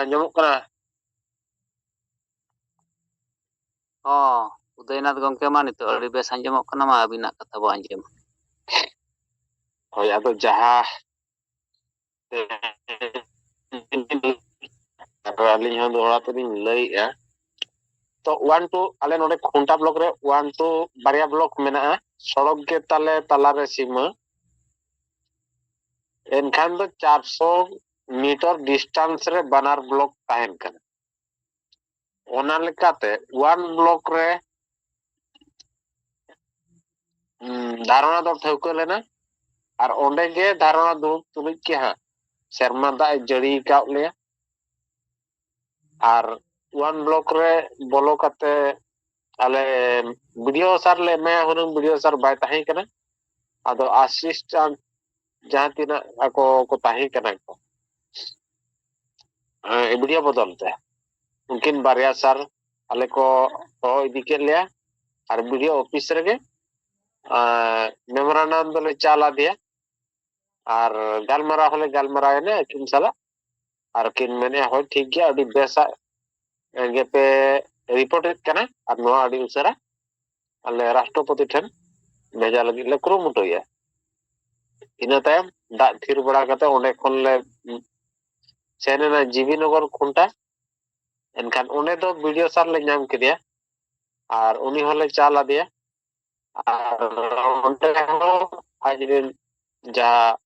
ᱟᱸᱡᱚᱢᱚᱜ ᱠᱟᱱᱟ ᱦᱚᱸ ᱩᱫᱚᱭᱱᱟᱛᱷ ᱜᱚᱝᱠᱮ ᱢᱟ ᱱᱤᱛᱚᱜ ᱟᱹᱰᱤ ᱵᱮᱥ ᱟᱸᱡᱚᱢᱚᱜ ᱠᱟᱱᱟ ᱢᱟ ᱟᱹᱵᱤᱱᱟᱜ ᱠᱟᱛᱷᱟ ᱵᱚ ᱟᱸᱡᱚᱢᱟ ᱦᱳᱭ ᱟᱫᱚ ᱡᱟᱦᱟᱸ ᱟᱫᱚ ᱟᱹᱞᱤᱧ ᱦᱚᱸ ᱫᱚᱦᱲᱟ ᱛᱮᱞᱤᱧ ᱞᱟᱹᱭᱮᱜᱼᱟ ᱛᱚ ᱳᱣᱟᱱ ᱴᱩ ᱟᱞᱮ ᱱᱚᱰᱮ ᱠᱷᱩᱱᱴᱟ ᱵᱞᱚᱠ ᱨᱮ ᱳᱣᱟᱱ ᱴᱩ ᱵᱟᱨᱭᱟ ᱵᱞᱚᱠ ᱢᱮᱱᱟᱜᱼᱟ ᱥᱚᱲᱚᱠ ᱜᱮ ᱛᱟᱞᱮ ᱛᱟᱞᱟᱨᱮ ᱥᱤᱢᱟᱹ ᱮᱱᱠᱷᱟᱱ ᱫᱚ ᱪᱟᱨᱥᱚ ᱢᱤᱴᱟᱨ ᱰᱤᱥᱴᱟᱱᱥ ᱨᱮ ᱵᱟᱱᱟᱨ ᱵᱞᱚᱠ ᱛᱟᱦᱮᱱ ᱠᱟᱱᱟ ᱚᱱᱟ ᱞᱮᱠᱟᱛᱮ ᱳᱣᱟᱱ ᱵᱞᱚᱠ ᱨᱮ ᱫᱷᱟᱨᱚᱱᱟ ᱫᱚ ᱴᱷᱟᱹᱣᱠᱟᱹ ᱞᱮᱱᱟ ᱟᱨ ᱚᱸᱰᱮ ᱜᱮ ᱫᱷᱟᱨᱚᱱᱟ ᱫᱩᱲᱩᱵ ᱛᱩᱞᱩᱡ ᱜᱮ ᱦᱟᱸᱜ ᱥᱮᱨᱢᱟ ᱫᱟᱜ ᱮ ᱡᱟᱹᱲᱤ ᱟᱠᱟᱫ ᱞᱮᱭᱟ ᱟᱨ ᱚᱣᱟᱱ ᱵᱞᱚᱠ ᱨᱮ ᱵᱚᱞᱚ ᱠᱟᱛᱮ ᱟᱞᱮ ᱵᱤᱰᱤᱭᱳ ᱥᱟᱨ ᱞᱮ ᱮᱢᱟᱭᱟ ᱦᱩᱱᱟᱹᱝ ᱵᱤᱰᱤᱭᱳ ᱥᱟᱨ ᱵᱟᱭ ᱛᱟᱦᱮᱸ ᱠᱟᱱᱟ ᱟᱫᱚ ᱟᱥᱤᱥᱴᱟᱱᱴ ᱡᱟᱦᱟᱸ ᱛᱤᱱᱟᱹᱜ ᱟᱠᱚ ᱠᱚ ᱛᱟᱦᱮᱸ ᱠᱟᱱᱟ ᱠᱚ ᱵᱤᱰᱤᱭᱳ ᱵᱚᱫᱚᱞ ᱛᱮ ᱩᱱᱠᱤᱱ ᱵᱟᱨᱭᱟ ᱥᱟᱨ ᱟᱞᱮ ᱠᱚ ᱦᱚᱦᱚ ᱤᱫᱤ ᱠᱮᱫ ᱞᱮᱭᱟ ᱟᱨ ᱵᱤᱰᱤᱭᱳ ᱚᱯᱷᱤᱥ ᱨᱮᱜᱮ ᱢᱮᱢᱳᱨᱟᱱᱰᱟᱢ ᱫᱚᱞᱮ ᱪᱟᱞ ᱟᱫᱮᱭᱟ ᱟᱨ ᱜᱟᱞᱢᱟᱨᱟᱣ ᱦᱚᱸᱞᱮ ᱜᱟᱞᱢᱟᱨᱟᱣ ᱮᱱᱟ ᱟᱹᱠᱤᱱ ᱥᱟᱞᱟᱜ ᱟᱨ ᱠᱤᱱ ᱢᱮᱱᱮᱫᱼᱟ ᱦᱳᱭ ᱴᱷᱤᱠ ᱜᱮᱭᱟ ᱟᱹᱰᱤ ᱵᱮᱥᱟᱜ ᱜᱮᱯᱮ ᱨᱤᱯᱳᱨᱴᱮᱫ ᱠᱟᱱᱟ ᱟᱨ ᱱᱚᱣᱟ ᱟᱹᱰᱤ ᱩᱥᱟᱹᱨᱟ ᱟᱞᱮ ᱨᱟᱥᱴᱨᱚᱯᱚᱛᱤ ᱴᱷᱮᱱ ᱵᱷᱮᱡᱟ ᱞᱟᱹᱜᱤᱫ ᱞᱮ ᱠᱩᱨᱩᱢᱩᱴᱩᱭᱟ ᱤᱱᱟᱹ ᱛᱟᱭᱚᱢ ᱫᱟᱜ ᱛᱷᱤᱨ ᱵᱟᱲᱟ ᱠᱟᱛᱮ ᱚᱸᱰᱮ ᱠᱷᱚᱱ ᱞᱮ ᱥᱮᱱ ᱮᱱᱟ ᱡᱤᱵᱤᱱᱚᱜᱚᱨ ᱠᱷᱩᱱᱴᱟ ᱮᱱᱠᱷᱟᱱ ᱚᱸᱰᱮ ᱫᱚ ᱵᱤᱰᱤᱭᱳ ᱥᱟᱨ ᱞᱮ ᱧᱟᱢ ᱠᱮᱫᱮᱭᱟ ᱟᱨ ᱩᱱᱤ ᱦᱚᱸᱞᱮ ᱪᱟᱞ ᱟᱫᱮᱭᱟ ᱟᱨ ᱚᱸᱰᱮ ᱦᱚᱸ ᱟᱡ ᱨᱮᱱ ᱡᱟᱦᱟᱸ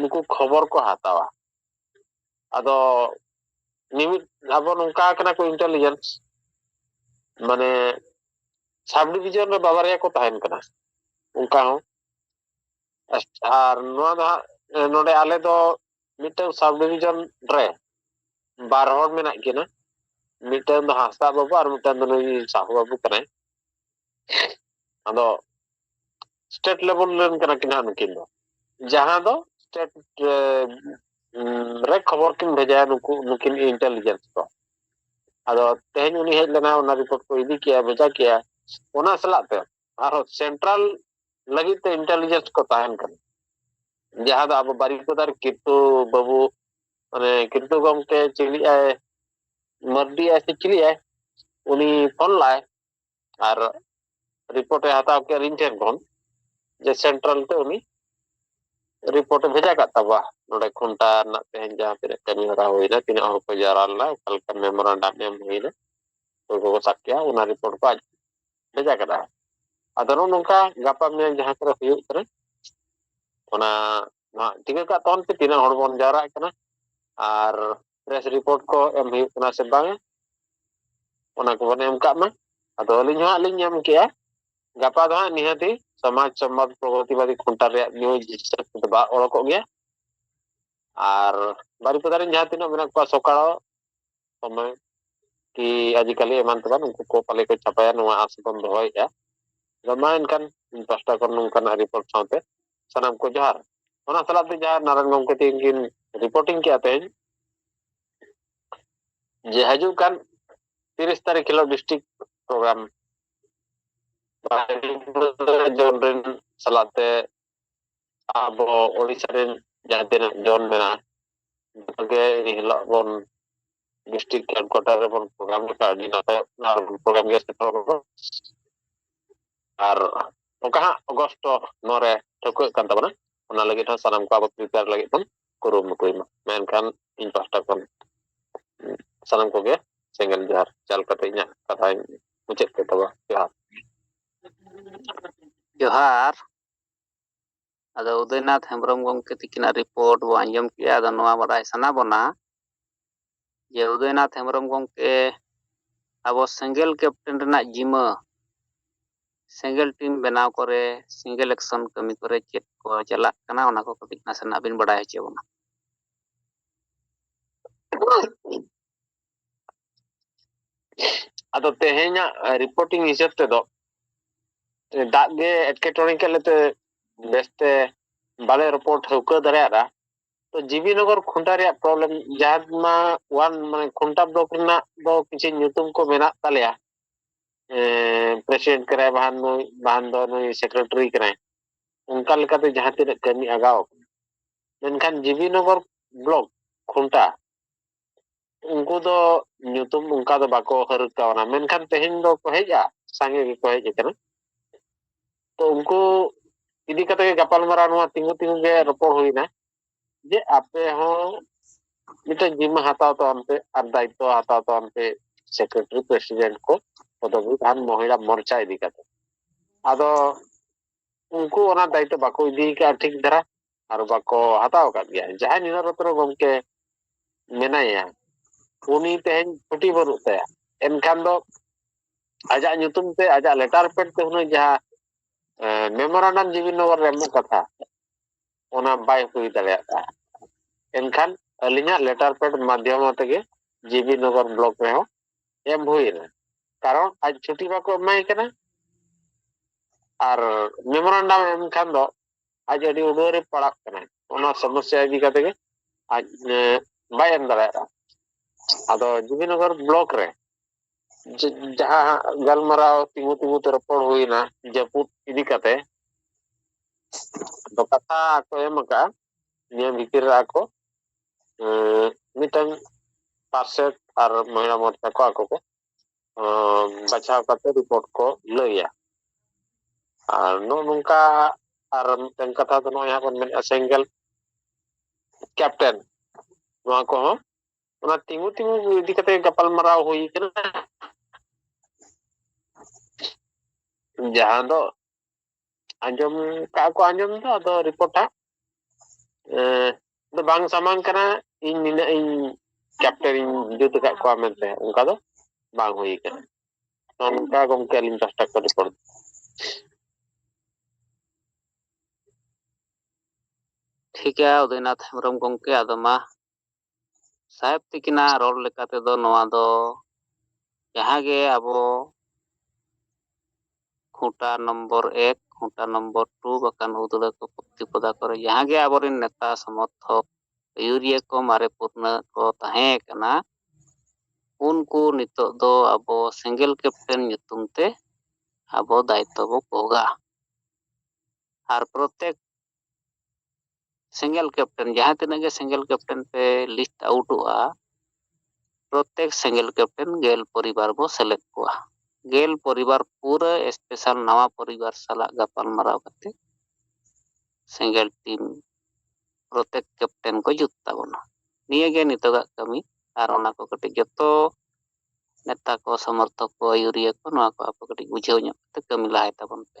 ᱱᱩᱠᱩ ᱠᱷᱚᱵᱚᱨ ᱠᱚ ᱦᱟᱛᱟᱣᱟ ᱟᱫᱚ ᱢᱤᱢᱤᱫ ᱟᱵᱚ ᱱᱚᱝᱠᱟ ᱠᱟᱱᱟ ᱠᱚ ᱤᱱᱴᱮᱞᱤᱡᱮᱱᱥ ᱢᱟᱱᱮ ᱥᱟᱵ ᱰᱤᱵᱷᱤᱡᱚᱱ ᱨᱮ ᱵᱟᱵᱟᱨᱭᱟ ᱠᱚ ᱛᱟᱦᱮᱱ ᱠᱟᱱᱟ ᱚᱱᱠᱟ ᱦᱚᱸ ᱟᱨ ᱱᱚᱣᱟ ᱫᱚ ᱦᱟᱸᱜ ᱱᱚᱰᱮ ᱟᱞᱮ ᱫᱚ ᱢᱤᱫᱴᱟᱝ ᱥᱟᱵ ᱰᱤᱵᱷᱤᱡᱚᱱ ᱨᱮ ᱵᱟᱨ ᱦᱚᱲ ᱢᱮᱱᱟᱜ ᱠᱤᱱᱟ ᱢᱤᱫᱴᱟᱝ ᱫᱚ ᱦᱟᱸᱥᱫᱟ ᱵᱟᱹᱵᱩ ᱟᱨ ᱢᱤᱫᱴᱟᱝ ᱫᱚ ᱱᱩᱭ ᱥᱟᱦᱩ ᱵᱟᱹᱵᱩ ᱠᱟᱱᱟᱭ ᱟᱫᱚ ᱥᱴᱮᱴ ᱞᱮᱵᱮᱞ ᱨᱮᱱ ᱠᱟᱱᱟ ᱠᱤᱱ ᱦᱟᱸᱜ ᱱᱩᱠᱤᱱ ᱫᱚ ᱡᱟᱦᱟᱸ ᱫᱚ ᱥᱴᱮᱴ ᱨᱮ ᱠᱷᱚᱵᱚᱨ ᱠᱤᱱ ᱵᱷᱮᱡᱟᱭᱟ ᱱᱩᱠᱩ ᱱᱩᱠᱤᱱ ᱤᱱᱴᱮᱞᱤᱡᱮᱱᱥ ᱠᱚ ᱟᱫᱚ ᱛᱮᱦᱮᱧ ᱩᱱᱤ ᱦᱮᱡ ᱞᱮᱱᱟ ᱚᱱᱟ ᱨᱤᱯᱳᱨᱴ ᱠᱚ ᱤᱫᱤ ᱠᱮᱜᱼᱟ ᱵᱷᱮᱡᱟ ᱠᱮᱜᱼᱟ ᱚᱱᱟ ᱥᱟᱞᱟᱜ ᱛᱮ ᱟᱨᱦᱚᱸ ᱥᱮᱱᱴᱨᱟᱞ ᱞᱟᱹᱜᱤᱫ ᱛᱮ ᱤᱱᱴᱮᱞᱤᱡᱮᱱᱥ ᱠᱚ ᱛᱟᱦᱮᱱ ᱠᱟᱱᱟ ᱡᱟᱦᱟᱸ ᱫᱚ ᱟᱵᱚ ᱵᱟᱨᱤᱯᱟᱫᱟᱨ ᱠᱤᱨᱛᱩ ᱵᱟᱹᱵᱩ ᱢᱟᱱᱮ ᱠᱤᱨᱛᱩ ᱜᱚᱢᱠᱮ ᱪᱤᱞᱤᱜᱼᱟᱭ ᱢᱟᱨᱰᱤ ᱟᱭ ᱥᱮ ᱪᱤᱞᱤᱜᱼᱟᱭ ᱩᱱᱤ ᱯᱷᱳᱱ ᱞᱟᱜᱼᱟᱭ ᱟᱨ ᱨᱤᱯᱳᱨᱴ ᱮ ᱦᱟᱛᱟᱣ ᱠᱮᱫ ᱤᱧ ᱴᱷᱮᱱ ᱠᱷᱚᱱ ᱡᱮ ᱥᱮᱱᱴᱨᱟᱞ ᱛᱮ ᱩᱱᱤ ᱨᱤᱯᱳᱨᱴ ᱮ ᱵᱷᱮᱡᱟ ᱠᱟᱜ ᱛᱟᱵᱚᱣᱟ ᱱᱚᱰᱮ ᱠᱷᱩᱱᱴᱟ ᱨᱮᱱᱟᱜ ᱛᱮᱦᱮᱧ ᱡᱟᱦᱟᱸ ᱛᱤᱱᱟᱹᱜ ᱠᱟᱹᱢᱤ ᱦᱚᱨᱟ ᱦᱩᱭᱱᱟ ᱛᱤᱱᱟᱹᱜ ᱦᱚᱲ ᱠᱚ ᱡᱟᱣᱨᱟ ᱞᱮᱱᱟ ᱚᱠᱟ ᱞᱮᱠᱟ ᱢᱮᱢᱳᱨᱟᱱᱰᱟᱢ ᱮᱢ ᱦᱩᱭᱱᱟ ᱚᱠᱚᱭ ᱠᱚᱠᱚ ᱥᱟᱵ ᱠᱮᱜᱼᱟ ᱚᱱᱟ ᱨᱤᱯᱳᱨᱴ ᱠᱚ ᱟᱡ ᱵᱷᱮᱡᱟ ᱠᱮᱫᱟ ᱟᱫᱚ ᱱᱚᱜᱼᱚ ᱱᱚᱝᱠᱟ ᱜᱟᱯᱟ ᱢᱮᱭᱟᱝ ᱡᱟᱦᱟᱸ ᱠᱚᱨᱮ ᱦᱩᱭᱩᱜ ᱠᱟᱱᱟ ᱚᱱᱟ ᱱᱚᱣᱟ ᱴᱷᱤᱠᱟᱹ ᱠᱟᱜ ᱛᱟᱵᱚᱱ ᱯᱮ ᱛᱤᱱᱟᱹᱜ ᱦᱚᱲ ᱵᱚᱱ ᱡᱟᱣᱨᱟᱜ ᱠᱟᱱᱟ ᱟᱨ ᱯᱨᱮᱥ ᱨᱤᱯᱳᱨᱴ ᱠᱚ ᱮᱢ ᱦᱩᱭᱩᱜ ᱠᱟᱱᱟ ᱥᱮ ᱵᱟᱝ ᱚᱱᱟ ᱠᱚᱵᱚᱱ ᱮᱢ ᱠᱟᱜ ᱢᱟ ᱟᱫᱚ ᱟᱹᱞᱤᱧ ᱦᱚᱸ ᱞᱤᱧ ᱮᱢ ᱠᱮᱜᱼᱟ ᱜᱟᱯᱟ ᱫᱚ ᱦᱟᱸᱜ ᱱᱤᱦᱟᱹᱛᱤ ᱥᱚᱢᱟᱡᱽ ᱥᱚᱢᱵᱟᱫ ᱯᱨᱚᱜᱚᱛᱤᱵᱟᱫᱤ ᱠᱷᱩᱱᱴᱟ ᱨᱮᱭᱟᱜ ᱱᱤᱭᱩᱡᱽ ᱦᱤᱥᱟᱹᱵ ᱛᱮᱫᱚ ᱵᱟᱝ ᱚᱲᱚᱠᱚᱜ ᱜᱮᱭᱟ ᱟᱨ ᱵᱟᱨᱤᱯᱟᱫᱟ ᱨᱮᱱ ᱡᱟᱦᱟᱸ ᱛᱤᱱᱟᱹᱜ ᱢᱮᱱᱟᱜ ᱠᱚᱣᱟ ᱥᱚᱠᱟᱲᱚ ᱥᱚᱢᱚᱭ ᱠᱤ ᱟᱡᱤᱠᱟᱞᱤ ᱮᱢᱟᱱ ᱛᱮᱢᱟᱱ ᱩᱱᱠᱩ ᱠᱚ ᱯᱟᱞᱮ ᱠᱚ ᱪᱷᱟᱯᱟᱭᱟ ᱱᱚᱣᱟ ᱟᱥ ᱵᱚᱱ ᱫᱚᱦᱚᱭᱮᱫᱼᱟ ᱟᱫᱚ ᱢᱟ ᱮᱱᱠᱷᱟᱱ ᱯᱟᱥᱴᱟ ᱠᱷᱚᱱ ᱱᱚᱝᱠᱟᱱᱟᱜ ᱨᱤᱯᱳᱨᱴ ᱥᱟᱶᱛᱮ ᱥᱟᱱᱟᱢ ᱠᱚ ᱡᱚᱦᱟᱨ ᱚᱱᱟ ᱥᱟᱞᱟᱜ ᱛᱮ ᱡᱟᱦᱟᱸ ᱱᱟᱨᱟᱭᱚᱱ ᱜᱚᱢᱠᱮ ᱛᱤᱦᱤᱧ ᱠᱤᱱ ᱨᱤᱯᱳᱨᱴᱤᱝ ᱠᱮᱜᱼᱟ ᱛᱮᱦᱮᱧ ᱡᱮ ᱦᱤᱡᱩᱜ ᱠᱟᱱ ᱛᱤᱨᱤᱥ ᱛᱟᱹᱨᱤᱠᱷ ᱦᱤᱞᱳᱜ ᱰᱤᱥᱴᱨᱤᱠᱴ ᱯᱨᱳᱜᱨᱟᱢ ᱡᱚᱱ ᱨᱮᱱ ᱥᱟᱞᱟᱜ ᱛᱮ ᱟᱵᱚ ᱳᱲᱤᱥᱟ ᱨᱮᱱ ᱡᱟᱦᱟᱸ ᱛᱤᱱᱟᱹᱜ ᱡᱚᱱ ᱢᱮᱱᱟᱜᱼᱟ ᱡᱚᱛᱚᱜᱮ ᱮᱱ ᱦᱤᱞᱳᱜ ᱵᱚᱱ ᱰᱤᱥᱴᱨᱤᱠᱴ ᱦᱮᱰᱠᱩᱣᱟᱴᱟᱨ ᱨᱮᱵᱚᱱ ᱯᱨᱳᱜᱨᱟᱢ ᱞᱮᱠᱷᱟᱱ ᱟᱹᱰᱤ ᱱᱟᱯᱟᱭᱚᱜ ᱠᱟᱱᱟ ᱟᱨ ᱯᱨᱳᱜᱨᱟᱢ ᱜᱮ ᱥᱮᱴᱮᱨᱚᱜ ᱠᱟᱱᱟ ᱟᱨ ᱚᱱᱠᱟ ᱦᱟᱸᱜ ᱚᱜᱚᱥᱴ ᱱᱚᱣᱟ ᱨᱮ ᱴᱷᱟᱹᱣᱠᱟᱹᱜ ᱠᱟᱱ ᱛᱟᱵᱚᱱᱟ ᱚᱱᱟ ᱞᱟᱹᱜᱤᱫ ᱦᱚᱸ ᱥᱟᱱᱟᱢ ᱠᱚ ᱟᱵᱚ ᱯᱨᱤᱯᱮᱭᱟᱨ ᱞᱟᱹᱜᱤᱫ ᱵᱚᱱ ᱠᱩᱨᱩᱢᱩᱴᱩᱭ ᱢᱟ ᱢᱮᱱᱠᱷᱟᱱ ᱤᱧ ᱯᱟᱦᱴᱟ ᱠᱷᱚᱱ ᱥᱟᱱᱟᱢ ᱠᱚᱜᱮ ᱥᱮᱸᱜᱮᱞ ᱡᱚᱦᱟᱨ ᱪᱟᱞ ᱠᱟᱛᱮ ᱤᱧᱟᱹᱜ ᱠᱟᱛᱷᱟᱧ ᱢᱩᱪᱟᱹᱫ ᱠᱮᱫ ᱛᱟᱵᱚᱱᱟ ᱡᱚᱦᱟᱨ ᱡᱚᱦᱟᱨ ᱟᱫᱚ ᱩᱫᱚᱭᱱᱟᱛᱷ ᱦᱮᱢᱵᱨᱚᱢ ᱜᱚᱢᱠᱮ ᱛᱤᱠᱤᱱᱟᱜ ᱨᱤᱯᱳᱨᱴ ᱵᱚ ᱟᱸᱡᱚᱢ ᱠᱮᱜᱼᱟ ᱟᱫᱚ ᱱᱚᱣᱟ ᱵᱟᱰᱟᱭ ᱥᱟᱱᱟ ᱵᱚᱱᱟ ᱡᱮ ᱩᱫᱚᱭᱱᱟᱛᱷ ᱦᱮᱢᱵᱨᱚᱢ ᱜᱚᱢᱠᱮ ᱟᱵᱚ ᱥᱮᱸᱜᱮᱞ ᱠᱮᱯᱴᱮᱱ ᱨᱮᱱᱟᱜ ᱡᱤᱢᱟᱹ ᱥᱮᱸᱜᱮᱞ ᱴᱤᱢ ᱵᱮᱱᱟᱣ ᱠᱚᱨᱮ ᱥᱮᱸᱜᱮᱞ ᱮᱠᱥᱚᱱ ᱠᱟᱹᱢᱤ ᱠᱚᱨᱮ ᱪᱮᱫ ᱠᱚ ᱪᱟᱞᱟᱜ ᱠᱟᱱᱟ ᱚᱱᱟ ᱠᱚ ᱠᱟᱹᱴᱤᱡ ᱱᱟᱥᱮᱱᱟᱜ ᱵᱤᱱ ᱵᱟᱰᱟᱭ ᱦᱚᱪᱚ ᱵᱚᱱᱟ ᱟᱫᱚ ᱛᱮᱦᱮᱧᱟᱜ ᱨᱤᱯᱳᱨᱴᱤᱝ ᱦᱤᱥᱟᱹᱵ ᱛᱮᱫᱚ ᱫᱟᱜ ᱜᱮ ᱮᱴᱠᱮᱴᱚᱬᱮ ᱠᱮᱫ ᱞᱮᱛᱮ ᱵᱮᱥᱛᱮ ᱵᱟᱞᱮ ᱨᱚᱯᱚᱲ ᱴᱷᱟᱹᱣᱠᱟᱹ ᱫᱟᱲᱮᱭᱟᱫᱟ ᱛᱚ ᱡᱤᱵᱤ ᱱᱚᱜᱚᱨ ᱠᱷᱩᱱᱴᱟ ᱨᱮᱭᱟᱜ ᱯᱨᱚᱵᱞᱮᱢ ᱡᱟᱦᱟᱸ ᱢᱟ ᱣᱟᱱ ᱢᱟᱱᱮ ᱠᱷᱩᱱᱴᱟ ᱵᱞᱚᱠ ᱨᱮᱱᱟᱜ ᱫᱚ ᱠᱤᱪᱷᱩ ᱧᱩᱛᱩᱢ ᱠᱚ ᱢᱮᱱᱟᱜ ᱛᱟᱞᱮᱭᱟ ᱯᱨᱮᱥᱤᱰᱮᱱᱴ ᱠᱟᱱᱟᱭ ᱵᱟᱦᱟᱱ ᱱᱩᱭ ᱵᱟᱦᱟᱱ ᱫᱚ ᱱᱩᱭ ᱥᱮᱠᱨᱮᱴᱟᱨᱤ ᱠᱟᱱᱟᱭ ᱚᱱᱠᱟ ᱞᱮᱠᱟᱛᱮ ᱡᱟᱦᱟᱸ ᱛᱤᱱᱟᱹᱜ ᱠᱟᱹᱢᱤ ᱟᱜᱟᱣ ᱢᱮᱱᱠᱷᱟᱱ ᱡᱤᱵᱤ ᱱᱚᱜᱚᱨ ᱵᱞᱚᱠ ᱠᱷᱩᱱᱴᱟ ᱩᱱᱠᱩ ᱫᱚ ᱧᱩᱛᱩᱢ ᱚᱱᱠᱟ ᱫᱚ ᱵᱟᱠᱚ ᱦᱟᱹᱨ ᱠᱟᱣᱱᱟ ᱢᱮᱱᱠᱷᱟᱱ ᱛᱮᱦᱮᱧ ᱫᱚ ᱠᱚ ᱦᱮᱡᱼᱟ ᱥᱟᱸᱜᱮ ᱜᱮᱠᱚ ᱦᱮᱡ ᱟᱠᱟᱱᱟ ᱛᱚ ᱩᱱᱠᱩ ᱤᱫᱤ ᱠᱟᱛᱮ ᱜᱮ ᱜᱟᱯᱟᱞᱢᱟᱨᱟᱣ ᱱᱚᱣᱟ ᱛᱤᱸᱜᱩ ᱛᱤᱸᱜᱩ ᱜᱮ ᱨᱚᱯᱚᱲ ᱦᱩᱭᱱᱟ ᱡᱮ ᱟᱯᱮ ᱦᱚᱸ ᱢᱤᱫᱴᱮᱱ ᱡᱤᱢᱢᱟᱹ ᱦᱟᱛᱟᱣ ᱛᱟᱵᱚᱱ ᱯᱮ ᱟᱨ ᱫᱟᱭᱤᱛᱛᱚ ᱦᱟᱛᱟᱣ ᱛᱟᱵᱚᱱ ᱯᱮ ᱥᱮᱠᱨᱮᱴᱟᱨᱤ ᱯᱨᱮᱥᱤᱰᱮᱱᱴ ᱠᱚ ᱯᱚᱫᱚᱵᱤ ᱟᱨ ᱢᱚᱦᱤᱞᱟ ᱢᱚᱨᱪᱟ ᱤᱫᱤ ᱠᱟᱛᱮ ᱟᱫᱚ ᱩᱱᱠᱩ ᱚᱱᱟ ᱫᱟᱭᱤᱛᱛᱚ ᱵᱟᱠᱚ ᱤᱫᱤ ᱠᱟᱜᱼᱟ ᱴᱷᱤᱠ ᱫᱷᱟᱨᱟ ᱟᱨ ᱵᱟᱠᱚ ᱦᱟᱛᱟᱣ ᱟᱠᱟᱫ ᱜᱮᱭᱟ ᱡᱟᱦᱟᱸᱭ ᱱᱤᱨᱟᱡᱽ ᱨᱚᱛᱱᱚ ᱜᱚᱢᱠᱮ ᱢᱮᱱᱟᱭᱟ ᱩᱱᱤ ᱛᱮᱦᱮᱧ ᱪᱷᱩᱴᱤ ᱵᱟᱹᱱᱩᱜ ᱛᱟᱭᱟ ᱮᱱᱠᱷᱟᱱ ᱫᱚ ᱟᱡᱟᱜ ᱧᱩᱛᱩᱢ ᱛᱮ ᱟᱡᱟᱜ ᱞᱮᱴᱟᱨ ᱯᱮᱰ ᱛᱮ ᱦᱩᱱᱟᱹᱝ ᱡᱟᱦᱟᱸ ᱢᱮᱢᱳᱨᱟᱱᱰᱟᱢ ᱡᱤᱵᱤ ᱱᱚᱜᱚᱨ ᱨᱮ ᱮᱢᱚᱜ ᱠᱟᱛᱷᱟ ᱚᱱᱟ ᱵᱟᱭ ᱦᱩᱭ ᱫᱟᱲᱮᱭᱟᱜ ᱠᱟᱱᱟ ᱮᱱᱠᱷᱟᱱ ᱟᱹᱞᱤᱧᱟᱜ ᱞᱮᱴᱟᱨ ᱯᱮᱰ ᱢᱟᱫᱽᱫᱷᱚᱢ ᱛᱮᱜᱮ ᱡᱤᱵᱤ ᱱᱚᱜᱚᱨ ᱵᱞᱚᱠ ᱨᱮᱦᱚᱸ ᱮᱢ ᱦᱩᱭᱮᱱᱟ ᱠᱟᱨᱚᱱ ᱟᱡ ᱪᱷᱩᱴᱤ ᱵᱟᱠᱚ ᱮᱢᱟᱭ ᱠᱟᱱᱟ ᱟᱨ ᱢᱮᱢᱳᱨᱟᱱᱰᱟᱢ ᱮᱢ ᱠᱷᱟᱱ ᱫᱚ ᱟᱡ ᱟᱹᱰᱤ ᱩᱰᱟᱹᱨ ᱨᱮ ᱯᱟᱲᱟᱜ ᱠᱟᱱᱟᱭ ᱚᱱᱟ ᱥᱚᱢᱚᱥᱥᱟ ᱤᱫᱤ ᱠᱟᱛᱮ ᱜᱮ ᱟᱡ ᱵᱟᱭ ᱮᱢ ᱫᱟᱲᱮᱭᱟᱜᱼᱟ ᱟᱫᱚ ᱡᱩᱵᱤᱱᱚᱜᱚᱨ ᱵᱞᱚᱠ ᱨᱮ ᱡᱟᱦᱟᱸ ᱜᱟᱞᱢᱟᱨᱟᱣ ᱛᱤᱸᱜᱩ ᱛᱤᱸᱜᱩ ᱛᱮ ᱨᱚᱯᱚᱲ ᱦᱩᱭᱱᱟ ᱡᱟᱹᱯᱩᱫ ᱤᱫᱤ ᱠᱟᱛᱮ ᱫᱚ ᱠᱟᱛᱷᱟ ᱠᱚ ᱮᱢ ᱟᱠᱟᱫᱼᱟ ᱱᱤᱭᱟᱹ ᱵᱷᱤᱛᱤᱨ ᱨᱮ ᱟᱠᱚ ᱢᱤᱫᱴᱟᱝ ᱯᱟᱨᱥᱮᱴ ᱟᱨ ᱢᱚᱦᱤᱞᱟ ᱢᱳᱨᱪᱟ ᱠᱚ ᱟᱠᱚ ᱠᱚ ᱵᱟᱪᱷᱟᱣ ᱠᱟᱛᱮ ᱨᱤᱯᱳᱨᱴ ᱠᱚ ᱞᱟᱹᱭᱟ ᱟᱨ ᱱᱚᱜᱼᱚ ᱱᱚᱝᱠᱟ ᱟᱨ ᱢᱤᱫᱴᱮᱱ ᱠᱟᱛᱷᱟ ᱫᱚ ᱱᱚᱜᱼᱚᱭ ᱦᱟᱸᱜ ᱵᱚᱱ ᱢᱮᱱᱮᱫᱼᱟ ᱥᱮᱸᱜᱮᱞ ᱠᱮᱯᱴᱮᱱ ᱱᱚᱣᱟ ᱠᱚᱦᱚᱸ ᱚᱱᱟ ᱛᱤᱸᱜᱩ ᱛᱤᱸᱜᱩ ᱤᱫᱤ ᱠᱟᱛᱮ ᱜᱟᱯᱟᱞᱢᱟᱨᱟᱣ ᱦᱩᱭ ᱠᱟᱱᱟ ᱡᱟᱦᱟᱸ ᱫᱚ ᱟᱸᱡᱚᱢ ᱠᱟᱜ ᱠᱚ ᱟᱸᱡᱚᱢ ᱫᱚ ᱟᱫᱚ ᱨᱤᱯᱳᱨᱴ ᱦᱟᱸᱜ ᱫᱚ ᱵᱟᱝ ᱥᱟᱢᱟᱝ ᱠᱟᱱᱟ ᱤᱧ ᱱᱤᱱᱟᱹᱜ ᱤᱧ ᱪᱟᱯᱴᱟᱨ ᱤᱧ ᱡᱩᱛ ᱟᱠᱟᱫ ᱠᱚᱣᱟ ᱢᱮᱱᱛᱮ ᱚᱱᱠᱟ ᱫᱚ ᱵᱟᱝ ᱦᱩᱭ ᱟᱠᱟᱱᱟ ᱱᱚᱝᱠᱟ ᱜᱚᱢᱠᱮ ᱟᱹᱞᱤᱧ ᱯᱟᱥᱴᱟ ᱠᱷᱚᱱ ᱨᱤᱯᱳᱨᱴ ᱴᱷᱤᱠ ᱜᱮᱭᱟ ᱩᱫᱚᱭᱱᱟᱛᱷ ᱦᱮᱢᱵᱨᱚᱢ ᱜᱚᱢᱠᱮ ᱟᱫᱚ ᱢᱟ ᱥᱟᱦᱮᱵᱽ ᱛᱤᱠᱤᱱᱟᱜ ᱨᱚᱲ ᱞᱮᱠᱟ ᱛᱮᱫᱚ ᱱᱚᱣᱟ ᱫᱚ ᱡᱟᱦᱟᱸ ᱜᱮ ᱟᱵᱚ ᱠᱷᱩᱸᱴᱟ ᱱᱚᱢᱵᱚᱨ ᱮᱠ ᱠᱷᱩᱸᱴᱟ ᱱᱚᱢᱵᱚᱨ ᱴᱩ ᱵᱟᱠᱷᱟᱱ ᱦᱩᱫᱽᱲᱟᱹ ᱠᱚ ᱯᱚᱫᱟ ᱠᱚᱨᱮ ᱡᱟᱦᱟᱸ ᱜᱮ ᱟᱵᱚᱨᱮᱱ ᱱᱮᱛᱟ ᱥᱚᱢᱚᱨᱛᱷᱚᱠ ᱟᱹᱭᱩᱨᱤᱭᱟᱹ ᱠᱚ ᱢᱟᱨᱮ ᱯᱩᱨᱱᱟᱹ ᱠᱚ ᱛᱟᱦᱮᱸ ᱠᱟᱱᱟ ᱩᱱᱠᱩ ᱱᱤᱛᱚᱜ ᱫᱚ ᱟᱵᱚ ᱥᱤᱸᱜᱮᱞ ᱠᱮᱯᱴᱮᱱ ᱧᱩᱛᱩᱢ ᱛᱮ ᱟᱵᱚ ᱫᱟᱭᱤᱛᱛᱚ ᱵᱚ ᱵᱷᱳᱜᱟ ᱟᱨ ᱯᱨᱚᱛᱮᱠ ᱥᱤᱝᱜᱮᱞ ᱠᱮᱯᱴᱮᱱ ᱡᱟᱦᱟᱸ ᱛᱤᱱᱟᱹᱜ ᱜᱮ ᱥᱤᱝᱜᱮᱞ ᱠᱮᱯᱴᱮᱱ ᱯᱮ ᱞᱤᱥᱴ ᱟᱣᱩᱴᱚᱜᱼᱟ ᱯᱨᱚᱛᱮᱠ ᱥᱤᱝᱜᱮᱞ ᱠᱮᱯᱴᱮᱱ ᱜᱮᱞ ᱯᱚᱨᱤᱵᱟᱨ ᱵᱚ ᱥᱮᱞᱮᱫ ᱠᱚᱣᱟ ᱜᱮᱞ ᱯᱚᱨᱤᱵᱟᱨ ᱯᱩᱨᱟᱹ ᱥᱯᱮᱥᱟᱞ ᱱᱟᱣᱟ ᱯᱚᱨᱤᱵᱟᱨ ᱥᱟᱞᱟᱜ ᱜᱟᱯᱟᱞ ᱢᱟᱨᱟᱣ ᱠᱟᱛᱮ ᱥᱤᱝᱜᱮᱞ ᱴᱤᱢ ᱯᱨᱚᱛᱮᱠ ᱠᱮᱯᱴᱮᱱ ᱠᱚ ᱡᱩᱛ ᱛᱟᱵᱚᱱᱟ ᱱᱤᱭᱟᱹ ᱜᱮ ᱱᱤᱛᱚᱜᱟᱜ ᱠᱟᱹᱢᱤ ᱟᱨ ᱚᱱᱟ ᱠᱚ ᱠᱟᱹᱴᱤᱡ ᱡᱚᱛᱚ ᱱᱮᱛᱟ ᱠᱚ ᱥᱚᱢᱚᱨᱛᱷᱚᱠ ᱠᱚ ᱟᱹᱭᱩᱨᱤᱭᱟᱹ ᱠᱚ ᱱᱚᱣᱟ ᱠᱚ ᱟᱯᱮ ᱠᱟᱹᱴᱤᱡ ᱵᱩᱡᱷᱟᱹᱣ ᱧᱚᱜ ᱠᱟᱛᱮ ᱠᱟᱹᱢᱤ ᱞᱟᱦᱟᱭ ᱛᱟᱵᱚᱱ ᱯᱮ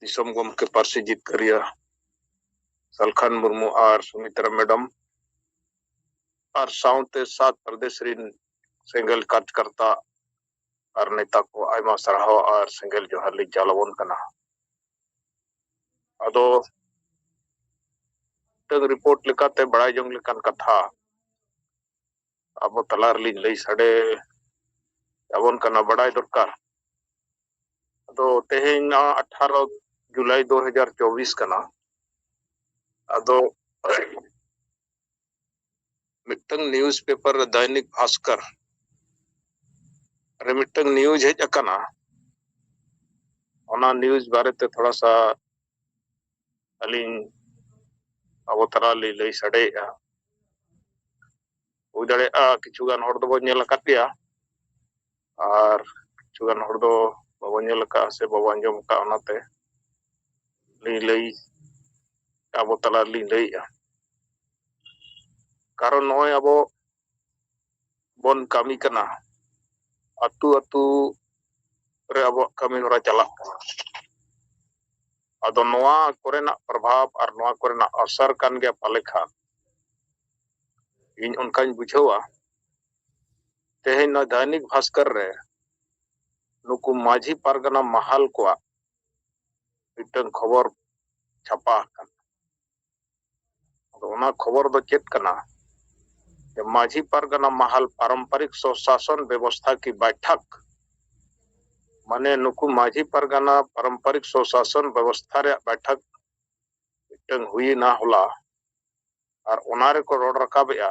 ᱫᱤᱥᱚᱢ ᱜᱚᱢᱠᱮ ᱯᱟᱹᱨᱥᱤ ᱡᱤᱛᱠᱟᱹᱨᱤᱭᱟᱹ ᱥᱟᱞᱠᱷᱟᱱ ᱢᱩᱨᱢᱩ ᱟᱨ ᱥᱩᱢᱤᱛᱨᱟ ᱢᱮᱰᱟᱢ ᱟᱨ ᱥᱟᱶᱛᱮ ᱥᱟᱛ ᱯᱨᱚᱫᱮᱥ ᱨᱤᱱ ᱥᱮᱸᱜᱮᱞ ᱠᱟᱨᱡᱽᱠᱟᱨᱛᱟ ᱟᱨ ᱱᱮᱛᱟ ᱠᱚ ᱟᱭᱢᱟ ᱥᱟᱨᱦᱟᱣ ᱟᱨ ᱥᱮᱸᱜᱮᱞ ᱡᱚᱦᱟᱨ ᱞᱤᱧ ᱪᱟᱞ ᱟᱵᱚᱱ ᱠᱟᱱᱟ ᱟᱫᱚ ᱢᱤᱫᱴᱟᱝ ᱨᱤᱯᱳᱨᱴ ᱞᱮᱠᱟᱛᱮ ᱵᱟᱲᱟᱭ ᱡᱚᱝ ᱞᱮᱠᱟᱱ ᱠᱟᱛᱷᱟ ᱟᱵᱚ ᱛᱟᱞᱟ ᱨᱮᱞᱤᱧ ᱞᱟᱹᱭ ᱥᱟᱰᱮ ᱟᱵᱚᱱ ᱠᱟᱱᱟ ᱵᱟᱰᱟᱭ ᱫᱚᱨᱠᱟᱨ ᱟᱫᱚ ᱛᱮᱦᱮᱧ ᱱᱚᱣᱟ ᱟᱴᱷᱟᱨᱚ ᱡᱩᱞᱟᱭ ᱫᱩ ᱦᱟᱡᱟᱨ ᱪᱚᱵᱵᱤᱥ ᱠᱟᱱᱟ ᱟᱫᱚ ᱢᱤᱫᱴᱟᱝ ᱱᱤᱭᱩᱡ ᱯᱮᱯᱟᱨ ᱨᱮ ᱫᱟᱭᱱᱤᱠ ᱵᱷᱟᱥᱠᱚᱨ ᱨᱮ ᱢᱤᱫᱴᱟᱝ ᱱᱤᱭᱩᱡ ᱦᱮᱡ ᱟᱠᱟᱱᱟ ᱚᱱᱟ ᱱᱤᱭᱩᱡ ᱵᱟᱨᱮᱛᱮ ᱛᱷᱚᱲᱟ ᱥᱟ ᱟᱹᱞᱤᱧ ᱟᱵᱚ ᱛᱟᱞᱟ ᱞᱤᱧ ᱞᱟᱹᱭ ᱥᱟᱰᱮᱭᱮᱫᱼᱟ ᱦᱩᱭ ᱫᱟᱲᱮᱭᱟᱜᱼᱟ ᱠᱤᱪᱷᱩ ᱜᱟᱱ ᱦᱚᱲ ᱫᱚᱵᱚᱱ ᱧᱮᱞ ᱟᱠᱟᱫ ᱜᱮᱭᱟ ᱟᱨ ᱠᱤᱪᱷᱩ ᱜᱟᱱ ᱦᱚᱲ ᱫᱚ ᱵᱟᱵᱚᱱ ᱧᱮᱞ ᱟᱠᱟᱫᱼᱟ ᱥᱮ ᱵᱟᱵᱚᱱ ᱟᱸᱡᱚᱢ ᱟᱠᱟᱫᱼᱟ ᱚᱱᱟᱛᱮ ᱞᱤᱧ ᱞᱟᱹᱭ ᱟᱵᱚ ᱛᱟᱞᱟ ᱨᱮᱞᱤᱧ ᱞᱟᱹᱭᱮᱫᱼᱟ ᱠᱟᱨᱚᱱ ᱱᱚᱜᱼᱚᱭ ᱟᱵᱚ ᱵᱚᱱ ᱠᱟᱹᱢᱤ ᱠᱟᱱᱟ ᱟᱹᱛᱩ ᱟᱹᱛᱩ ᱨᱮ ᱟᱵᱚᱣᱟᱜ ᱠᱟᱹᱢᱤ ᱦᱚᱨᱟ ᱪᱟᱞᱟᱜ ᱠᱟᱱᱟ ᱟᱫᱚ ᱱᱚᱣᱟ ᱠᱚᱨᱮᱱᱟᱜ ᱯᱨᱚᱵᱷᱟᱵᱽ ᱟᱨ ᱱᱚᱣᱟ ᱠᱚᱨᱮᱱᱟᱜ ᱚᱥᱚᱨ ᱠᱟᱱ ᱜᱮᱭᱟ ᱯᱟᱞᱮ ᱠᱷᱟᱱ ᱤᱧ ᱚᱱᱠᱟᱧ ᱵᱩᱡᱷᱟᱹᱣᱟ ᱛᱮᱦᱮᱧ ᱱᱚᱣᱟ ᱫᱟᱭᱱᱤᱠ ᱵᱷᱟᱥᱠᱚᱨ ᱨᱮ ᱱᱩᱠᱩ ᱢᱟᱹᱡᱷᱤ ᱯᱟᱨᱜᱟᱱᱟ ᱢᱟᱦᱟᱞ ᱠᱚᱣᱟᱜ ᱢᱤᱫᱴᱟᱝ ᱠᱷᱚᱵᱚᱨ ᱪᱷᱟᱯᱟ ᱟᱠᱟᱱᱟ ᱟᱫᱚ ᱚᱱᱟ ᱠᱷᱚᱵᱚᱨ ᱫᱚ ᱪᱮᱫ ᱠᱟᱱᱟ ᱡᱮ ᱢᱟᱹᱡᱷᱤ ᱯᱟᱨᱜᱟᱱᱟ ᱢᱟᱦᱟᱞ ᱯᱟᱨᱚᱢᱯᱟᱨᱤᱠ ᱥᱚᱥᱟᱥᱚᱱ ᱵᱮᱵᱚᱥᱛᱷᱟ ᱠᱤ ᱵᱟᱭᱴᱷᱟᱠ ᱢᱟᱱᱮ ᱱᱩᱠᱩ ᱢᱟᱹᱡᱷᱤ ᱯᱟᱨᱜᱟᱱᱟ ᱯᱟᱨᱚᱢᱯᱟᱨᱤᱠ ᱥᱚᱥᱟᱥᱚᱱ ᱵᱮᱵᱚᱥᱛᱷᱟ ᱨᱮᱭᱟᱜ ᱵᱟᱭᱴᱷᱟᱠ ᱢᱤᱫᱴᱟᱝ ᱦᱩᱭᱮᱱᱟ ᱦᱚᱞᱟ ᱟᱨ ᱚᱱᱟ ᱨᱮᱠᱚ ᱨᱚᱲ ᱨᱟᱠᱟᱵᱮᱜᱼᱟ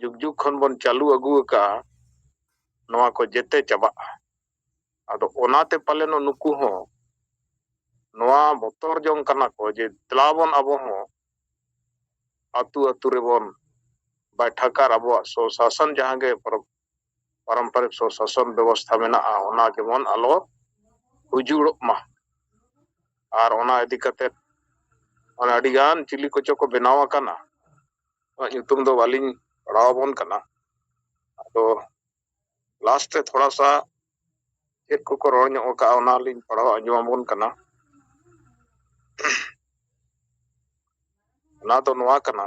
ᱡᱩᱜᱽ ᱡᱩᱜᱽ ᱠᱷᱚᱱ ᱵᱚᱱ ᱪᱟᱹᱞᱩ ᱟᱹᱜᱩ ᱟᱠᱟᱫᱼᱟ ᱱᱚᱣᱟ ᱠᱚ ᱡᱮᱛᱮ ᱪᱟᱵᱟᱜᱼᱟ ᱟᱫᱚ ᱚᱱᱟᱛᱮ ᱯᱟᱞᱮᱱ ᱱᱩᱠᱩ ᱦᱚᱸ ᱱᱚᱣᱟ ᱵᱚᱛᱚᱨ ᱡᱚᱝ ᱠᱟᱱᱟ ᱠᱚ ᱡᱮ ᱫᱮᱞᱟ ᱵᱚᱱ ᱟᱵᱚ ᱦᱚᱸ ᱟᱹᱛᱩ ᱟᱹᱛᱩ ᱨᱮᱵᱚᱱ ᱵᱟᱭᱴᱷᱟᱠ ᱟᱨ ᱟᱵᱚᱣᱟᱜ ᱥᱚ ᱥᱟᱥᱚᱱ ᱡᱟᱦᱟᱸ ᱜᱮ ᱯᱟᱨᱚᱢᱯᱟᱨᱤᱠ ᱥᱚᱥᱟᱥᱚᱱ ᱵᱮᱵᱚᱥᱛᱷᱟ ᱢᱮᱱᱟᱜᱼᱟ ᱚᱱᱟ ᱡᱮᱢᱚᱱ ᱟᱞᱚ ᱩᱡᱩᱲᱚᱜ ᱢᱟ ᱟᱨ ᱚᱱᱟ ᱤᱫᱤ ᱠᱟᱛᱮ ᱚᱱᱟ ᱟᱹᱰᱤᱜᱟᱱ ᱪᱤᱞᱤ ᱠᱚᱪᱚ ᱠᱚ ᱵᱮᱱᱟᱣ ᱟᱠᱟᱱᱟ ᱚᱱᱟ ᱧᱩᱛᱩᱢ ᱫᱚ ᱵᱟᱹᱞᱤᱧ ᱯᱟᱲᱟᱣ ᱟᱵᱚᱱ ᱠᱟᱱᱟ ᱟᱫᱚ ᱞᱟᱥᱴ ᱨᱮ ᱛᱷᱚᱲᱟ ᱥᱟ ᱪᱮᱫ ᱠᱚᱠᱚ ᱨᱚᱲ ᱧᱚᱜ ᱟᱠᱟᱜᱼᱟ ᱚᱱᱟ ᱞᱤᱧ ᱯᱟᱲᱦᱟᱣ ᱟᱸᱡᱚᱢ ᱟᱵᱚᱱ ᱠᱟᱱᱟ ᱚᱱᱟ ᱫᱚ ᱱᱚᱣᱟ ᱠᱟᱱᱟ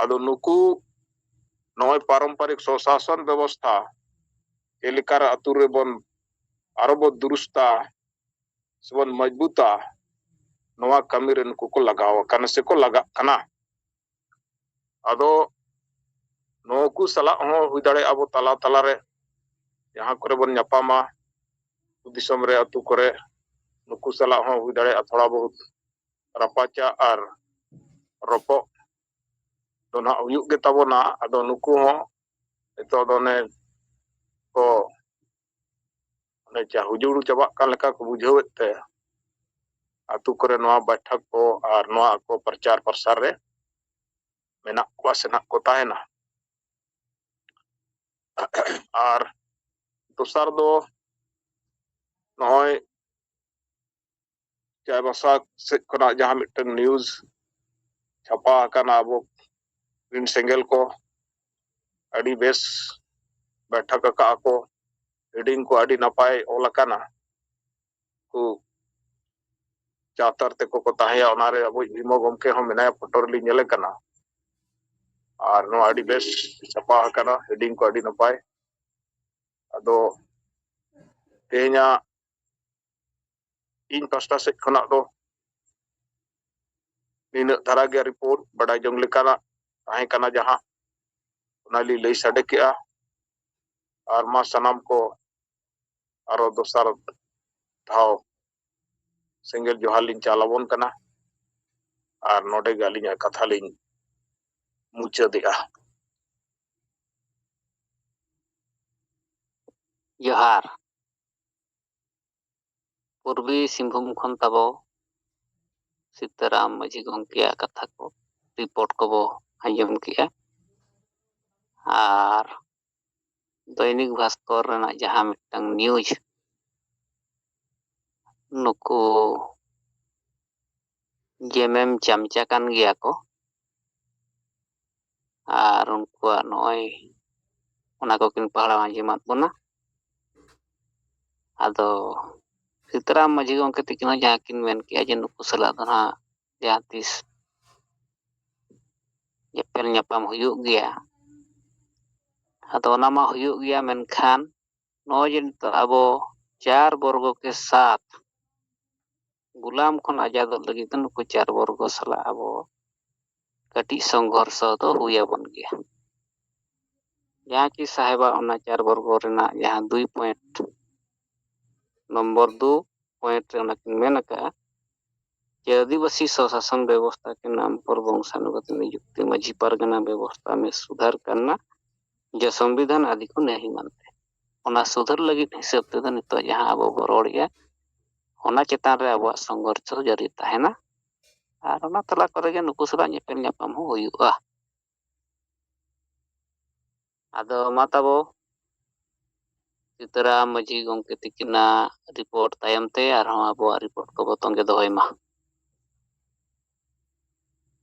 ᱟᱫᱚ ᱱᱩᱠᱩ ᱱᱚᱜᱼᱚᱭ ᱯᱟᱨᱚᱢᱯᱟᱨᱤᱠ ᱥᱚᱥᱟᱥᱚᱱ ᱵᱮᱵᱚᱥᱛᱷᱟ ᱪᱮᱫ ᱞᱮᱠᱟ ᱨᱮ ᱟᱹᱛᱩ ᱨᱮᱵᱚᱱ ᱟᱨᱚ ᱵᱚ ᱫᱩᱨᱩᱥᱛᱟ ᱥᱮᱵᱚᱱ ᱢᱚᱡᱽᱵᱩᱛᱟ ᱱᱚᱣᱟ ᱠᱟᱹᱢᱤ ᱨᱮ ᱱᱩᱠᱩ ᱠᱚ ᱞᱟᱜᱟᱣ ᱟᱠᱟᱱᱟ ᱥᱮᱠᱚ ᱞᱟᱜᱟᱜ ᱠᱟᱱᱟ ᱟᱫᱚ ᱱᱩᱠᱩ ᱥᱟᱞᱟᱜ ᱦᱚᱸ ᱦᱩᱭ ᱫᱟᱲᱮᱭᱟᱜᱼᱟ ᱟᱵᱚ ᱛᱟᱞᱟ ᱛᱟᱞᱟ ᱨᱮ ᱡᱟᱦᱟᱸ ᱠᱚᱨᱮ ᱵᱚᱱ ᱧᱟᱯᱟᱢᱟ ᱫᱤᱥᱚᱢ ᱨᱮ ᱟᱹᱛᱩ ᱠᱚᱨᱮ ᱱᱩᱠᱩ ᱥᱟᱞᱟᱜ ᱦᱚᱸ ᱦᱩᱭ ᱫᱟᱲᱮᱭᱟᱜᱼᱟ ᱛᱷᱚᱲᱟ ᱵᱚᱦᱩᱛ ᱨᱟᱯᱟᱪᱟ ᱟᱨ ᱨᱚᱯᱚᱜ ᱫᱚ ᱱᱟᱜ ᱦᱩᱭᱩᱜ ᱜᱮ ᱛᱟᱵᱚᱱᱟ ᱟᱫᱚ ᱱᱩᱠᱩ ᱦᱚᱸ ᱱᱤᱛᱚᱜ ᱫᱚ ᱚᱱᱮ ᱠᱚ ᱚᱱᱮ ᱪᱟ ᱦᱩᱡᱩᱲ ᱪᱟᱵᱟᱜ ᱠᱟᱱ ᱞᱮᱠᱟ ᱠᱚ ᱵᱩᱡᱷᱟᱹᱣᱮᱫ ᱛᱮ ᱟᱛᱳ ᱠᱚᱨᱮ ᱱᱚᱣᱟ ᱵᱟᱭᱴᱷᱟᱠ ᱠᱚ ᱟᱨ ᱱᱚᱣᱟ ᱟᱠᱚ ᱯᱨᱚᱪᱟᱨ ᱯᱨᱚᱥᱟᱨ ᱨᱮ ᱢᱮᱱᱟᱜ ᱠᱚᱣᱟ ᱥᱮ ᱱᱟᱜ ᱠᱚ ᱛᱟᱦᱮᱱᱟ ᱟᱨ ᱫᱚᱥᱟᱨ ᱫᱚ ᱱᱚᱜᱼᱚᱭ ᱪᱟᱭᱵᱟᱥᱟ ᱥᱮᱫ ᱠᱷᱚᱱᱟᱜ ᱡᱟᱦᱟᱸ ᱢᱤᱫᱴᱟᱝ ᱱᱤᱭᱩᱡᱽ ᱪᱷᱟᱯᱟ ᱟᱠᱟᱱᱟ ᱟᱵᱚ ᱨᱤᱱ ᱥᱮᱸᱜᱮᱞ ᱠᱚ ᱟᱹᱰᱤ ᱵᱮᱥ ᱵᱮᱴᱷᱟᱠ ᱟᱠᱟᱫ ᱟᱠᱚ ᱦᱮᱰᱤᱝ ᱠᱚ ᱟᱹᱰᱤ ᱱᱟᱯᱟᱭ ᱚᱞ ᱟᱠᱟᱱᱟ ᱠᱚ ᱪᱟᱛᱟᱨ ᱛᱮᱠᱚ ᱠᱚ ᱛᱟᱦᱮᱸᱭᱟ ᱚᱱᱟᱨᱮ ᱟᱵᱚ ᱵᱷᱤᱢᱚ ᱜᱚᱢᱠᱮ ᱦᱚᱸ ᱢᱮᱱᱟᱭᱟ ᱯᱷᱳᱴᱳ ᱨᱮᱞᱤᱧ ᱧᱮᱞᱮ ᱠᱟᱱᱟ ᱟᱨ ᱱᱚᱣᱟ ᱟᱹᱰᱤ ᱵᱮᱥ ᱪᱷᱟᱯᱟ ᱟᱠᱟᱱᱟ ᱦᱮᱰᱤᱝ ᱠᱚ ᱟᱹᱰᱤ ᱱᱟᱯᱟᱭ ᱟᱫᱚ ᱛᱮᱦᱮᱧᱟᱜ ᱤᱧ ᱯᱟᱥᱴᱟ ᱥᱮᱫ ᱠᱷᱚᱱᱟᱜ ᱫᱚ ᱱᱤᱱᱟᱹᱜ ᱫᱷᱟᱨᱟ ᱜᱮ ᱨᱤᱯᱳᱨᱴ ᱵᱟᱰᱟᱭ ᱡᱚᱝ ᱞᱮᱠᱟᱱᱟᱜ ᱛᱟᱦᱮᱸ ᱠᱟᱱᱟ ᱡᱟᱦᱟᱸ ᱚᱱᱟ ᱞᱤᱧ ᱞᱟᱹᱭ ᱥᱟᱰᱮ ᱠᱮᱜᱼᱟ ᱟᱨ ᱢᱟ ᱥᱟᱱᱟᱢ ᱠᱚ ᱟᱨᱚ ᱫᱚᱥᱟᱨ ᱫᱷᱟᱣ ᱥᱮᱸᱜᱮᱞ ᱡᱚᱦᱟᱨ ᱞᱤᱧ ᱪᱟᱞ ᱟᱵᱚᱱ ᱠᱟᱱᱟ ᱟᱨ ᱱᱚᱰᱮ ᱜᱮ ᱟᱹᱞᱤᱧᱟᱜ ᱠᱟᱛᱷᱟ ᱞᱤᱧ ᱢᱩᱪᱟᱹᱫᱮᱜᱼᱟ ᱡᱚᱦᱟᱨ ᱯᱩᱨᱵᱤ ᱥᱤᱝᱵᱷᱩᱢ ᱠᱷᱚᱱ ᱛᱟᱵᱚ ᱥᱤᱛᱟᱨᱟᱢ ᱢᱟᱹᱡᱷᱤ ᱜᱚᱢᱠᱮᱭᱟᱜ ᱠᱟᱛᱷᱟ ᱠᱚ ᱨᱤᱯᱳᱨᱴ ᱠᱚᱵᱚ ᱟᱸᱡᱚᱢ ᱠᱮᱜᱼᱟ ᱟᱨ ᱫᱚᱭᱱᱤᱠ ᱵᱷᱟᱥᱠᱚᱨ ᱨᱮᱱᱟᱜ ᱡᱟᱦᱟᱸ ᱢᱤᱫᱴᱟᱝ ᱱᱤᱭᱩᱡᱽ ᱱᱩᱠᱩ ᱡᱮᱢᱮᱢ ᱪᱟᱢᱪᱟ ᱠᱟᱱ ᱜᱮᱭᱟ ᱠᱚ ᱟᱨ ᱩᱱᱠᱩᱣᱟᱜ ᱱᱚᱜᱼᱚᱭ ᱚᱱᱟ ᱠᱚᱠᱤᱱ ᱯᱟᱲᱦᱟᱣ ᱟᱸᱡᱚᱢᱟᱫ ᱵᱚᱱᱟ ᱟᱫᱚ ᱥᱤᱛᱟᱨᱟᱢ ᱢᱟᱹᱡᱷᱤ ᱜᱚᱢᱠᱮ ᱛᱤᱠᱤᱱ ᱦᱚᱸ ᱡᱟᱦᱟᱸ ᱠᱤᱱ ᱢᱮᱱ ᱠᱮᱜᱼᱟ ᱡᱮ ᱱᱩᱠᱩ ᱥᱟᱞᱟᱜ ᱫᱚ ᱱᱟᱦᱟᱜ ᱡᱟᱦᱟᱸ ᱛᱤᱥ ᱧᱮᱯᱮᱞ ᱧᱟᱯᱟᱢ ᱦᱩᱭᱩᱜ ᱜᱮᱭᱟ ᱟᱫᱚ ᱚᱱᱟ ᱢᱟ ᱦᱩᱭᱩᱜ ᱜᱮᱭᱟ ᱢᱮᱱᱠᱷᱟᱱ ᱱᱚᱜᱼᱚᱭ ᱡᱮ ᱱᱤᱛᱚᱜ ᱟᱵᱚ ᱪᱟᱨ ᱵᱚᱨᱜᱚ ᱠᱮ ᱥᱟᱛ ᱜᱩᱞᱟᱢ ᱠᱷᱚᱱ ᱟᱡᱟᱫᱚᱜ ᱞᱟᱹᱜᱤᱫ ᱫᱚ ᱱᱩᱠᱩ ᱪᱟᱨ ᱵᱚᱨᱜᱚ ᱥᱟᱞᱟᱜ ᱟᱵᱚ ᱠᱟᱹᱴᱤᱡ ᱥᱚᱝᱜᱷᱚᱨᱥᱚ ᱫᱚ ᱦᱩᱭ ᱟᱵᱚᱱ ᱜᱮᱭᱟ ᱡᱟᱦᱟᱸ ᱠᱤ ᱥᱟᱦᱮᱵᱟᱜ ᱚᱱᱟ ᱪᱟᱨ ᱵᱚᱨᱜᱚ ᱨᱮᱱᱟᱜ ᱡᱟᱦᱟᱸ ᱫᱩᱭ ᱯᱚᱭᱮᱱᱴ ᱱᱚᱢᱵᱚᱨ ᱫᱩ ᱯᱚᱭᱮᱱᱴ ᱨᱮ ᱚᱱᱟ ᱠᱤᱱ ᱢᱮᱱ ᱟᱠᱟᱜᱼᱟ ᱡᱮ ᱟᱹᱫᱤᱵᱟᱹᱥᱤ ᱥᱚᱥᱟᱥᱚᱱ ᱵᱮᱵᱚᱥᱛᱷᱟ ᱠᱮ ᱱᱟᱢ ᱯᱚᱨ ᱵᱚᱝᱥᱟᱱᱩᱜᱚᱛ ᱱᱤᱡᱩᱠᱛᱤ ᱢᱟᱹᱡᱷᱤ ᱯᱟᱨᱜᱟᱱᱟ ᱵᱮᱵᱚᱥᱛᱷᱟ ᱢᱮ ᱥᱩᱫᱷᱟᱨ ᱠᱟᱨᱱᱟ ᱡᱮ ᱥᱚᱝᱵᱤᱫᱷᱟᱱ ᱟᱫᱤ ᱠᱚ ᱱᱮᱦᱤ ᱢᱟᱱᱛᱮ ᱚᱱᱟ ᱥᱩᱫᱷᱟᱹᱨ ᱞᱟᱹᱜᱤᱫ ᱦᱤᱥᱟᱹᱵ ᱛᱮᱫᱚ ᱱᱤᱛᱚᱜ ᱡᱟᱦᱟᱸ ᱟᱵᱚ ᱵᱚ ᱨᱚᱲᱮᱜᱼᱟ ᱚᱱᱟ ᱪᱮᱛᱟᱱ ᱨᱮ ᱟᱵᱚᱣᱟᱜ ᱥᱚᱝᱜᱷᱚᱨᱥ ᱦᱚᱸ ᱡᱟᱹᱨᱤ ᱛᱟᱦᱮᱱᱟ ᱟᱨ ᱚᱱᱟ ᱛᱟᱞᱟ ᱠᱚᱨᱮ ᱜᱮ ᱱᱩᱠᱩ ᱥᱟᱞᱟᱜ ᱧᱮᱯᱮᱞ ᱧᱟᱯᱟᱢ ᱦᱚᱸ ᱦᱩᱭᱩᱜᱼᱟ ᱟᱫᱚ ᱢᱟ ᱛᱟᱵᱚ ᱥᱤᱛᱟᱹᱨᱟᱢ ᱢᱟᱹᱡᱷᱤ ᱜᱚᱢᱠᱮ ᱛᱤᱠᱤᱱᱟᱜ ᱨᱤᱯᱳᱨᱴ ᱛᱟᱭᱚᱢ ᱛᱮ ᱟᱨᱦᱚᱸ ᱟᱵᱚᱣᱟᱜ ᱨᱤᱯᱳᱨᱴ ᱠᱚᱵᱚ ᱛᱚᱸᱜᱮ ᱫᱚᱦᱚᱭ ᱢᱟ